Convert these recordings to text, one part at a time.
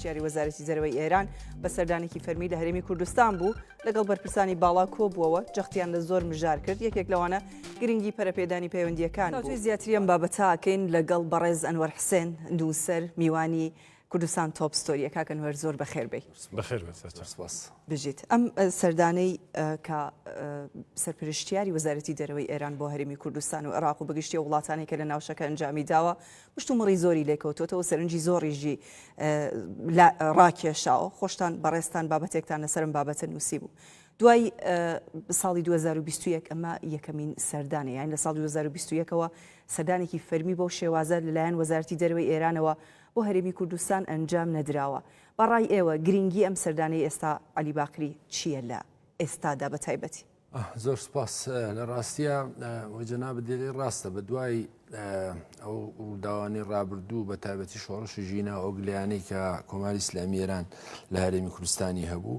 سەرپەرشتیاری وەزارەتی دەرەوەی ئێران بە سەردانێکی فەرمی لە هەرێمی کوردستان بوو لەگەڵ بەرپرسانی باڵا کۆبووەوە جەختیان لە زۆر مژار کرد یەکێک لەوانە گرنگی پەرپێدانی پەیوەندیەکان زیاتریم بابەتاکەین لەگەڵ بەڕێز ئەنوەر حسێن دووسەر میوانی کوردستان تۆپ ستۆریە کاکە نوێر زۆر بەخێر بێی. بەخێر بێت سەرچاو. سپاس. بژیت. ئەم سەردانەی کە سەرپرشتیاری وەزارەتی دەرەوەی ئێران بۆ هەرێمی کوردستان و عێراق و بەگشتی و وڵاتانی کە لە ناوچەکە ئەنجامی داوە مشتومڕی زۆری لێکەوتوتەوە سەرنجی زۆریژی ڕاکێشاوە خۆشتان بەڕێستان بابەتێکتان لەسرم بابەتە نووسی بوو. دوای ساڵی 2021 ئەمە یەکەمین سەردانە یان لە ساڵ 2021ەوە سەدانێکی فەرمی بۆ شێوازە لەلایەن وەزارتی دەروی ئێرانەوە بۆ هەرێمی کوردستان ئەنجام نەدراوە بە ڕای ئێوە گرینگی ئەم سەردانەی ئێستا عەلی باقری چییە لە ئێستادا بە تایبەتی؟ زۆر سپاس لە ڕاستیە وە جەنابت دێری ڕاستە بە دوای ئەو ڕووداوانی ڕابردوو بە تایبەتی شۆڕشی ژینا ئۆگلیانی کە کۆماری ئسلامی ئێران لە هەرێمی کوردستانی هەبوو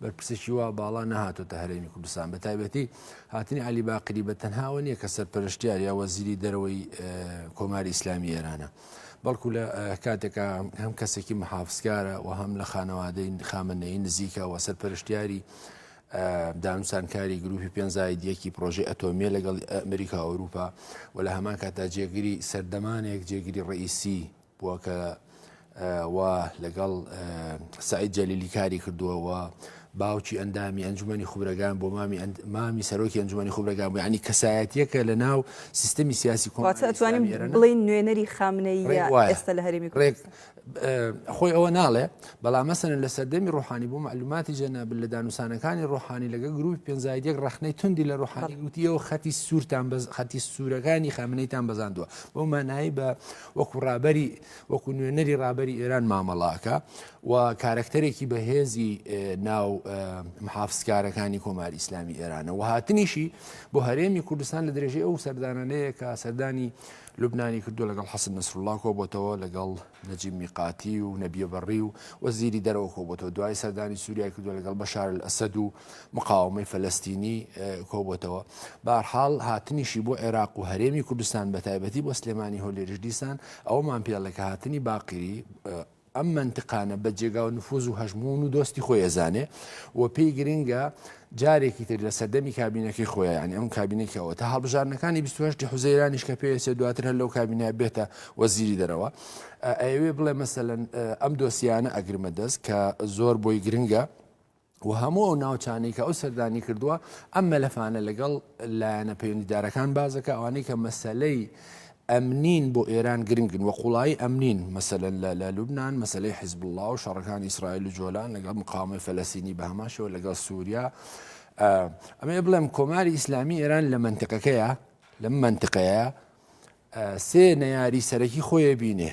بەرپرسێکی وا باڵا نەهاتۆتە هەرێمی کوردستان بە تایبەتی هاتنی علی باقری بە تەنهاوە نییە کە سەرپەرشتیار یا وەزیری دەرەوەی کۆماری ئیسلامی ئێرانە بەڵکو لە کاتێکا هەم کەسێکی محافزکارە و هەم لە خانەوادەی خامنەی نزیکە و سەرپەرشتیاری دانوسانکاری گروپی پێنجزاید یەکی پرۆژی ئەتۆمیە لەگەڵ ئەمریکا ئەوروپا و لە هەمان کاتا جێگری سەردەمانێک جێگری ڕئیسی بووە کە و لەگەڵ سعید جەلیلی کاری کردووەوە باوکی ئەندامی ئەنجومەنی خوبرەگان بووە، مامی ئەند مامی سەرۆکی ئەنجومەنی خوبرەگان بووە، یەعنی کەسایەتییەکە لە ناو سیستەمی سیاسی کۆماری ئیسلامی ئێران. واتە ئەتوانین بڵێین نوێنەری خامنەییە ئێستا لە هەرێمی کوردستان. ڕێک وایە. خۆی ئەوە ناڵێ، بەڵام مەسەلەن لە سەردەمی ڕوحانی بۆ مەعلوماتی جەنابت لە دانوسانەکانی ڕوحانی لەگەڵ گروپی پێنج زائید یەک ڕەخنەی توندی لە ڕوحانی گوتی ئێوە خەتی سوورتان بە خەتی سوورەکانی خامنەیتان بەزاندووە بەو مانایەی بە وەکو ڕابەری وەکو نوێنەری ڕابەری ئێران مامەڵە ئەکا و کارەکتەرێکی بەهێزی ناو محافزکارەکانی کۆماری ئیسلامی ئێرانە و هاتنیشی بۆ هەرێمی کوردستان لە درێژەی ئەو سەردانانەیە کە سەردانی لوبنانی کردو لەگەڵ حەسن نسرڵا کۆبتەوە لەگەڵ نەجی میقاتی و نەبیەبڕی و وەزیری دەرەوە کۆبتەوە دوای سەردانی سووریای کردو لەگەڵ بەشار ئەسەد و مقاومەی فەلستینی کۆبتەوە بارحاڵ هاتنیشی بۆ عێراق و هەرێمی کوردستان بە تایبەتی بۆ سلێمانی هۆلێریش دیسان ئەومان پێڵێکە هاتنی باقیری ئەم مەنتقانە بە جێگاو نفوز و هەژموون و دۆستی خۆی ئەزانێ و پێی گرنگە جارێکی تر لە سەردەمی کابینەکەی خۆیان ئەم کابینێکی ئەوە تا هەڵبژارنەکانی 28 حوزەیرانیش کە پێسێ دواتر هەر لەو کابینە بێتە وەزیری دەرەوە ئەوێ بڵێ مەسەن ئەم دۆسیانە ئەگرمە دەست کە زۆر بۆی گرنگە و هەموو ئەو ناوچانەی کە ئەو سەردانی کردووە ئەم مەلەفانە لەگەڵ لایەنە پەیوەندیدارەکان بازەکە ئەوانەی کە مەسلەی ئەمنین بۆ ئێران گرنگن و قوڵایی ئەمنین مەسەن لە لە لوبناان مەسلەی حزب الله و شەڕەکان ئیسرائیل و جۆلان لەگەڵ مقاومەی فەلەسینی بە هەماشەوە لەگەڵ سووریا ئەمێ بڵێم کۆماری ئیسلامی ئێران لە منتەکەکەیە لەم منتقەیە سێ نەیاری سەرەکی خۆیە بینێ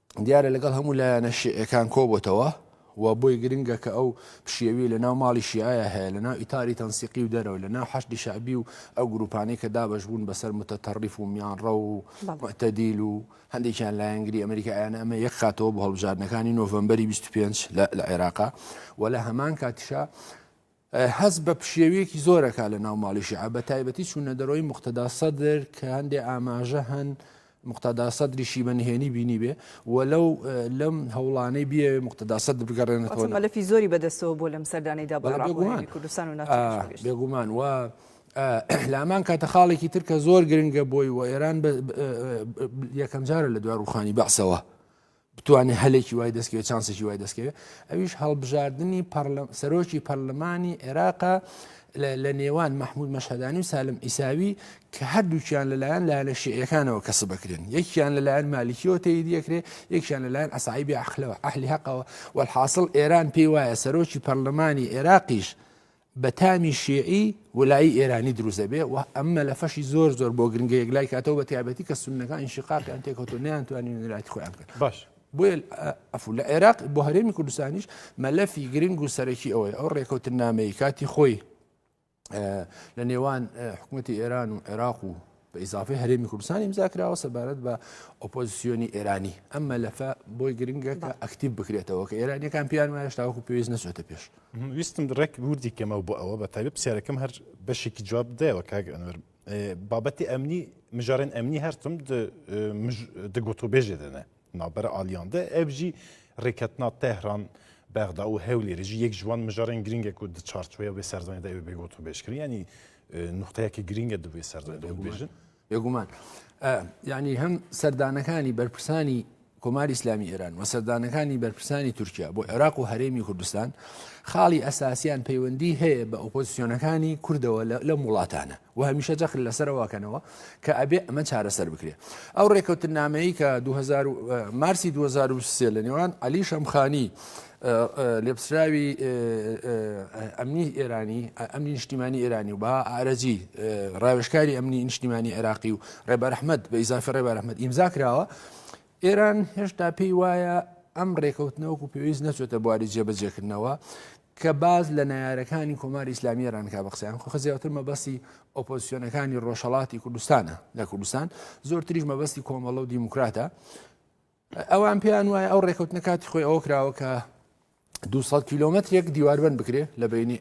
دیارە لەگەڵ هەموو لایەنە شیعیەکان کۆبۆتەوە و بۆی گرنگە کە ئەو پشێوی لە ناو ماڵی شیعەیە هەیە لە ناو ئیتاری تەنسیقی و دەرەوە لە ناو حەشدی شعبی و ئەو گروپانەی کە دابش بوون بەسەر متەتەڕیف و میانڕە و متەدیل و هەندێکیان لایەنگری ئەمریکا یان ئەمە یەک خاتەوە بە هەڵبژاردنەکانی نۆڤمبەری 25 لە عێراقا و لە هەمان کاتیشە هەست بە پشێوییەکی زۆر ئەکات لە ناو ماڵی شیعە بە تایبەتی چوونە دەرەوەی موقتەدا سەدر کە هەندێ ئاماژە هەن مقتەدا سەدریشی بە نهێنی بینی بێ و لەو لەم هەوڵانەی بێ مقتەدا سەد بگەڕێنێتەوە مەلەفی زۆری بەدەستەوە بۆ لەم سەردانەیدا بە بێگومان کوردستان و ناتوانێت. بێگومان و لامان کاتە خاڵێکی تر کە زۆر گرنگە بۆی و ئێران یەکەم جارە لە دوا ڕوخانی بەعسەوە بتوانێت هەلێکی وای دەستکەوێت چانسێکی وای دەستکەوێت ئەویش هەڵبژاردننی سەرۆکی پەرلەمانی عێراقا لە نێوان مححمود مەشهدانی و سالم ئیساوی کە هەردووکیان لەلایەن لایەنە شعەکانەوە کەسە بکرێن یەکیان لەلایەن مالیکیەوە تێی دیەکرێ یەکیان لەلایەن ئەسایبی ئەخلەوە ئەهلی هەقەوە وەحاصل ئێران پێی وایە سەرۆکی پەرلەمانی عێراقیش بە تامی شیعی ولایی ئێرانی دروست دەبێ و ئەم مەلەفەشی زۆر زۆر بۆ گرنگە یەک لای کاتەوە بە تایبەتی کە سنەکان ئینشقاقیان تێکەوتو نیانتوانین لایەتی خۆیان بکەن باش بۆیە ئەفو لە عێراق بۆ هەرێمی کوردستانیش مەلەفی گرنگ و سەرەکی ئەوەی ئەو ڕێکەوتن نامەیە کاتی خۆی لە نێوان حکوومەتتی ئێران و عێراق و بە ئیزافەی هەرێمی کوردستان ئیمزا کراوە سەبارەت بە ئۆپۆزیسیۆنی ئێرانی ئەم مەلەفە بۆی گرنگە کە ئەکتیب بکرێتەوە کە ئێرانیەکان پیان وایە شتاوەکو پێویست نەچێتە پێش ویستم ڕێک وردی کەمەوە بۆ ئەوە بە تایبەت پرسیارەکەم هەر بەشێکی جواب دایەوە کاک ئەنوەر بابەتی ئەمنی مژارن ئەمنی هەرتم دگوتۆ بێژێ دەنێ نابەرە ئالیان دە ئێڤ ژی ریکەتنا تێهران بەغدا و هەولێر ژی یەک ژوان مژارێن گرینگێک و دە چارچوەیە وێ سەردانێ دە ئێوێ بێ گۆت و بێژ کردن یانی نوختەیەکی گرینگە دە وێ سەردانێ دە بێژن بێگومان یعنی هەم سەردانەکانی بەرپرسانی کۆماری ئسلامی ئێران و سەردانەکانی بەرپرسانی تورکیا بۆ عێراق و هەرێمی کوردستان خاڵی ئەساسیان پەیوەندی هەیە بە ئۆپۆزیسیۆنەکانی کوردەوە لەم وڵاتانە و هەمیشە جەخت لەسەرەوە ئەکەنەوە کە ئەبێ ئەمە چارەسەر بکرێ ئەو ڕێکەوتنامەیی کە مارسی 2023 لە نێوان علی شەمخانی لێپسراوی ئەمنی ئێرانی ئەمنی نیشتیمانی ئێرانی و با ئارەجی ڕاوێشکاری ئەمنی نیشتیمانی عێراقی و ڕێبەرحمد بە ئیزافی ڕێبەرحمد ئیمزا کراوە ئێران هێشتا پێی وایە ئەم ڕێکەوتنە وەکو پێویست نەچێتە بواری جێبەجێکردنەوە کە باز لە نارەکانی کۆماری ئسلامی ێرانکە بە قسەیان خۆ خزیاتر مەبەستی ئۆپۆزیسیۆنەکانی ڕۆژهڵاتی کوردستانە لە کوردستان زۆرتریش مەبەستی کۆمەڵە و دیموکراتە ئەوان پێیان وایە ئەو ڕێکەوتنە کاتی خۆی ئەوە کراوە کە 200 کیلومترێک دیواربن بکرێ لە بینی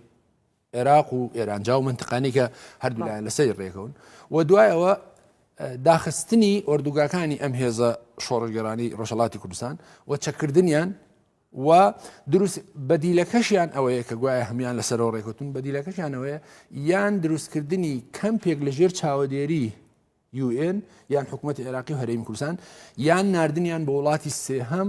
عێراق و ئێرانجا و منتقانی کە هەردوولایەن لەسەری ڕێکەون و دوای ئەوە داخستنی ئۆردوگاکانی ئەم هێزە شۆڕگەرانی ڕۆژەڵاتی کوردستان و چەکردنیان و دروست بەدیلەکەشیان ئەوەیە کە گوایە هەمان لەسەرەوە ڕێکوتن بەدیلەکەشیانەوەە یان دروستکردنی کەمپێک لە ژێر چاوەدێری UN یان حکوومەت عێراقی و هەرێمی کوردستان یان نردنیان بە وڵاتی سێهەم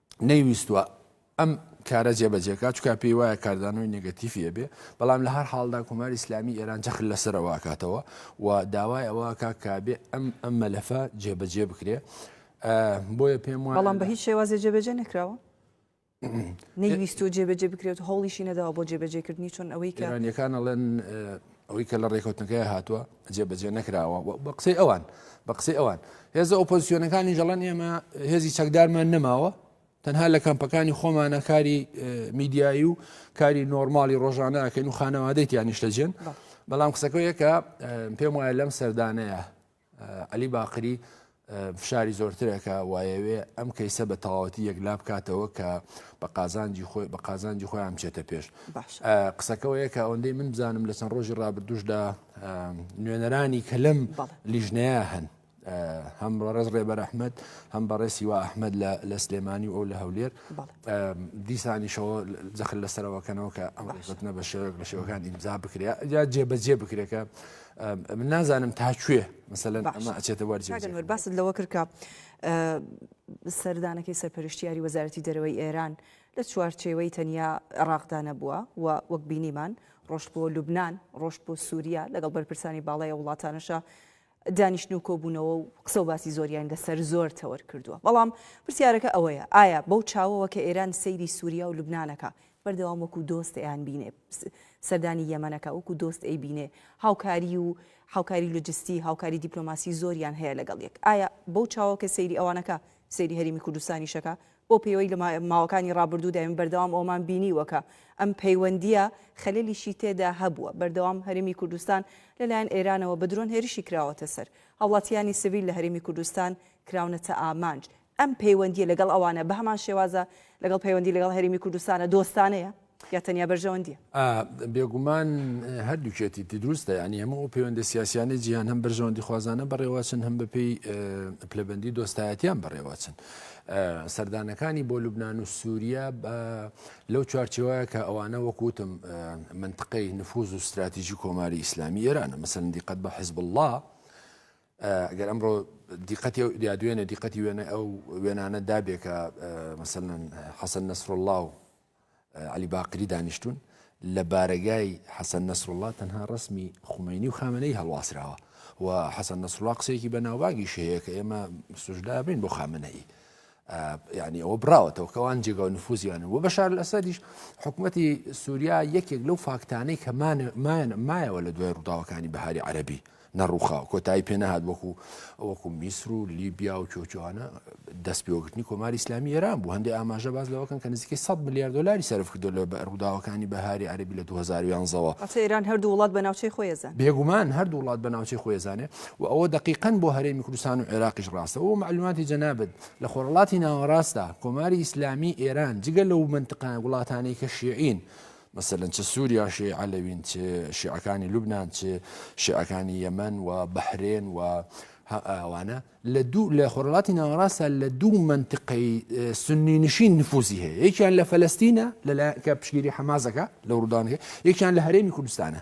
نەیویستوە ئەم کارە جێبەجێکە چکا پێی وایە کاردانەوەی نگەتیفی ئەبێ بەڵام لە هەر حاڵدا کوماری ئسلامی ئێران جەخل لەسەرەوەکاتەوە و داوای ئەوەکە کابێ ئەم ئەم مەلەفە جێبەجێ بکرێ بۆیە پێم وایە بەڵام بە هیچ شێوازێ جێبەجێ نکراوە نەیویست و جێبەجێ بکرێت هەوڵیشی نەداوە بۆ جێبەجێکردنی چۆن ئەوەی کەرانەکان ئەڵێن ئەوەی کە لە ڕێکەوتنەکەی هاتووە جێبەجێ نەکراوە بە قسەی ئەوان بە قسەی ئەوان هێزە ئۆپۆزیسیۆنەکانی جەڵەن ئێمە هێزی چەکدارمان نەماوە تەنها لە کەمپەکانی خۆمانە کاری میدیایی و کاری نۆرماڵی ڕۆژانە ئەکەین و خانەوادەیت یانیشتەجێن بەڵام قسەکەیەکە پێم وایە لەم سەردانەیە عەلی باقری فشاری زۆرترە کە وایەوێ ئەم کەیسە بە تەواوەتی یەکلا بکاتەوە کە بە قازانجی خۆی بە قازانجی خۆیان بچێتە پێش قسەکەەوەیە کە ئەوەندەی من بزانم لە چەند ڕۆژی ڕابردوشدا نوێنەرانی کە لەم لیژنەیە هەن هەم ڕێز ڕێبەر ئەحمد هەم بەڕێسی وا ئەحمد لە سلێمانی و ئەو لە هەولێر دیسانیشەوە جەخل لەسەرەوەکەنەوە کە ئەمڕێتنە بە شێوەک لە شێوەکان ئیمزا بکرێت یا جێبەجێ بکرێکە من نازانم تا کوێ مەسەلەن ئەمە ئەچێتە وەرج کاگەنوەر باست لەوە کردکە سەردانەکەی سەرپەرشتیاری وەزارەتی دەرەوەی ئێران لە چوارچێوەی تەنیا عێراقدا نەبووە و وەک بینیمان ڕۆشت بۆ لوبناان ڕۆشت بۆ سووریا لەگەڵ بەرپرسانی باڵای وڵاتانەشە دانیشتن و کۆبوونەوە و قسە و باسی زۆریان لەسەر زۆر تەوەر کردووە بەڵام پرسیارەکە ئەوەیە ئایا بەو چاوەوە کە ئێران سەیری سووریا و لوبناانەکە بەردەوام وەکو دۆست ئەیانبینێ سەردانی یەمەن ئەکا وەکو دۆست ئەیبینێ هاوکاری و هاوکاری لۆجستی هاوکاری دیپلۆماسی زۆریان هەیە لەگەڵ یەک ئایا بەو چاوە کە سەیری ئەوانەکە سەیری هەرێمی کوردستانیش ئەکا بۆ پێوەی لە ماوەکانی ڕابردوودا ئێمە بەردەوام ئەوەمان بینیوە کە ئەم پەیوەندییە خەلەلیشی تێدا هەبووە بەردەوام هەرێمی کوردستان لەلایەن ئێرانەوە بە درۆن هێرشی کراوەتە سەر هاوڵاتییانی سڤیل لە هەرێمی کوردستان کراونەتە ئامانج ئەم پەیوەندییە لەگەڵ ئەوانە بە هەمان شێوازە لەگەڵ پەیوەندی لەگەڵ هەرێمی کوردستانە، دۆستانەیە یا تەنیا بەرژەوەندییە؟ ئا، بێگومان هەردووکیەتیی دروستە، یانی هەموو ئەو پەیوەندە سیاسییانەی جیهان هەم بەرژەوەندیخوازانە بەڕێوەچن، هەم بەپێی پلەبەندی دۆستایەتییان بەڕێوەچن. سەردانەکانی بۆ لوبنان و سووریە لەو چوارچێوەیە کە ئەوانە وەک وتم مەنتقەی نفووز و ستراتیژی کۆماری ئیسلامی ئێرانە، مەسەلەن دیقەت بە حیزبوڵڵا، گەر ئەمڕۆ دیقەتی ئەو یا دوێنێ دیقەتی وێنەی ئەو وێنانە دابێ کە مەسەلەن حەسەن نەسروڵڵا و عەلی باقری دانیشتوون لە بارەگای حەسەن نەسروڵڵا تەنها ڕسمی خومەینی و خامنەی هەڵواسراوە و حەسەن نەسروڵا قسێکی بە ناوبانگی شەیە کە ئێمە سوژدا بین بۆ خامنەی یعنی ئەوە براوەتەوە کەوان جێگا و نفوزیانە و بەشار لەسەریش حکوومەتی سووریا یەکێک لەو فاکتانەی کە مایەوە لە دوای ڕووداوەکانی بەهاری عەربی نەڕووخاو کۆتایی پێ نەهات وەکو وەکو میسر و لیبیا و کۆچوانە دەست پێوەگرتنی کۆماری ئسلامی ئێران بوو هەندی ئاماژە باز لەوەکەن کە نزیکەی 100 ملیار دلاری سرف کردو لە ڕووداوەکانی بەهاری عەربی لە 2011ەوە ئێران هەردوو وڵات بە ناوچەی خۆیزان بێگومان هەردوو وڵات بە ناوچەی خۆیزانێ و ئەوە دقیقەن بۆ هەرێمی کوردستان و عێراقیش ڕاستە و معلوماتی جەنابت لە خۆرڵاتی ناوەڕاستدا کۆماری ئیسلامی ئێران جگە لەو منتقان وڵاتانی کە شیعین و مەسەلەن چ سوریا شێی عەلەوین چ شێعەکانی لوبنان چ شێعەکانی یەمەن و بەحرێن و ئەوانە لە دوو لە خۆرڵاتی ناوەڕاستە لە دوو منتقەی سنی نشین نفوزی هەیە یەکیان لە فەلستینە لە کە پشگیری حەمازەکە لە ڕوودانەکە یەکیان لە هەرێمی کوردستانە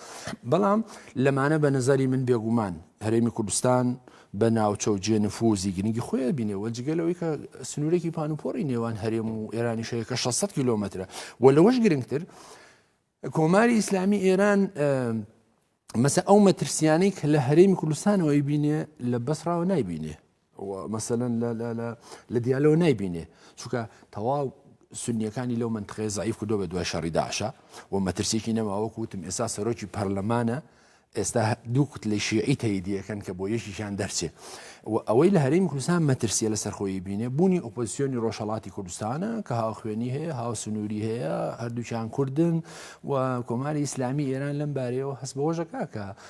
بەڵام لەمانە بە نەزەری من بێگومان هەرێمی کوردستان بە ناوچە و جێ نفوزی گرنگی خۆیان بینێەوە جگەلەوەی کە سنوورێکی پانوپۆری نێوان هەرێم و ئێرانی شەیە کە 600 کیلومترە و لەوەش گرنگتر کۆماری ئیسلامی ئێران مەسە ئەو مەترسیانەی کە لە هەرێمی کوردستانەوەی بینێ لە بەسراوە نایبینێ مەسەلەن لە دیالەوە نایبینێ چونکە تەواو سنیەکانی لەو منتخێ زعیف کردو بە دوای شەڕی داعشە و مەترسێکی نەماوەکو وتم ئێستا سەرۆکی پەرلەمانە ئێستا دوو کوت لە شیعی تەیدیەکەن کە بۆ یەکیشان دەرچێ و ئەوەی لە هەریم کوردستان مەترسیە لە سەرخۆی بینێ بوونی ئۆپۆزیسیۆنی ڕۆژهڵاتی کوردستانە کە هاوخوێنی هەیە هاو سنووری هەیە هەردووچان کوردن و کۆماری ئیسلامی ئێران لەم بارەیەوە هەست بەوەژەکە کە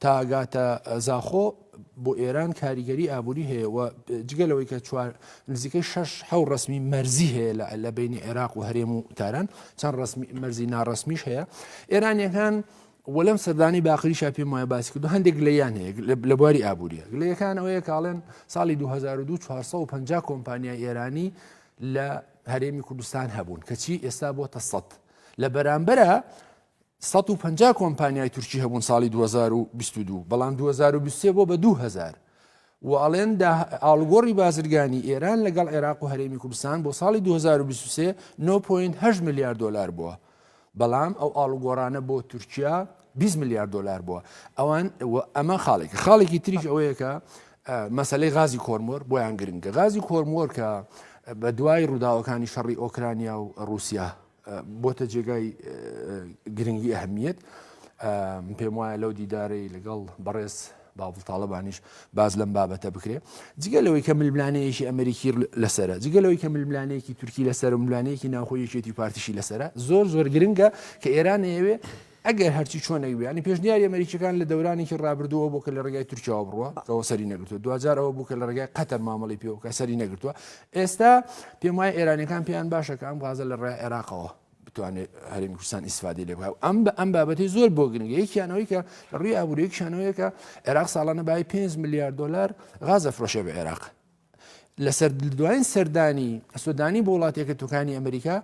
تا گاتە زاخۆ بۆ ئێران کاریگەری ئابووری هەیە و جگە لەوەی کە چوار نزیکەی شش حەو ڕسمی مەرزی هەیە لە لە بینی عێراق و هەرێم و تاران چەند مەرزی ناڕسمیش هەیە ئێرانیەکان وەلم سەردانی باقریشا پێم وایە باسی کردو هەندێک لەیان هەیە لە بواری ئابووریە لەیەکان ئەوەیە کاڵێن ساڵی 202450 کۆمپانیای ئێرانی لە هەرێمی کوردستان هەبوون کەچی ئێستا بۆ تە سەد لە بەرامبەرە سەد و پەنجا کۆمپانیای تورکی هەبوون ساڵی دوو هەزار و بیست و دوو، بەڵام دوو هەزار و بیست و سێ بۆ بە دوو هەزار و ئەڵێن دا ئاڵوگۆڕی بازرگانی ئێران لەگەڵ عێراق و هەرێمی کوردستان بۆ ساڵی دوو هەزار و بیست و سێ نۆ پۆینت هەشت ملیار دۆلار بووە بەڵام ئەو ئاڵوگۆڕانە بۆ تورکیا بیست ملیار دۆلار بووە ئەوان و ئەمە خاڵێکە خاڵێکی تریش ئەوەیە کە مەسلەی غازی کۆرمۆر بۆیان گرنگە غازی کۆرمۆر کە بە دوای ڕووداوەکانی شەڕی ئۆکرانیا و ڕووسیا بۆتە جێگای گرنگی ئەهمیت پێم وایە لەو دیدارەی لەگەڵ بەڕێز باڵ تاالبانیش باز لەم بابەتە بکرێ جگە لەوەی کە ململانەیەکی ئەمریکی لەسرە جگە لەوەی کە ململانەیەکی تورکی لەسەر ملانەیەکی ناوخۆیەکێتی پارتیشی لەسرە زۆر زۆر گرنگە کە ئێران ئەوێ ئەگەر هەرچی چۆنێک بێ، یانی پێشنیاری ئەمەریکییەکان لە دەورانێکی ڕابردووەوە بوو کە لە ڕێگای تورکیاوە بڕوا، کەەوە سەری نەگرتووە، دواجار ئەوە بوو کە لە ڕێگای قەتەر مامەڵەی پێوە بکا، سەری نەگرتووە. ئێستا پێم وایە ئێرانییەکان پێیان باشە کە ئەم غازە لە ڕێگای عێراقەوە بتوانێت هەرێمی کوردستان ئیسفادەی لێ بکا و ئەم بە ئەم بابەتی زۆر بۆ گرنگە، یەکیانەوەی کە لە ڕووی ئابووری یەکیانەوەیەکە عێراق ساڵانە بای پێنج ملیار دۆلار غاز دەفرۆشێ بە عێراق. لەسەر دوایین سەردانی سودانی بۆ وڵاتێکە توکانی ئەمریکا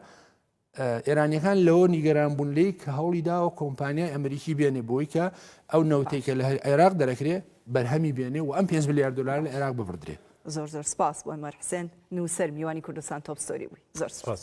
ئێرانییەکان لەوە نیگەران بوون لێی کە هەوڵی داوە کۆمپانیای ئەمریکی بێنێ بۆی کە ئەو نەوتەی کە لە عێراق دەرەکرێ بەرهەمی بێنێ و ئەم پێ ملیار دلار لە عێراق ببدرێ زۆر زۆر سپاس بۆ مەرحسێن نووسەر میوانی کوردستان تۆپستۆری بووی زۆر سپاس.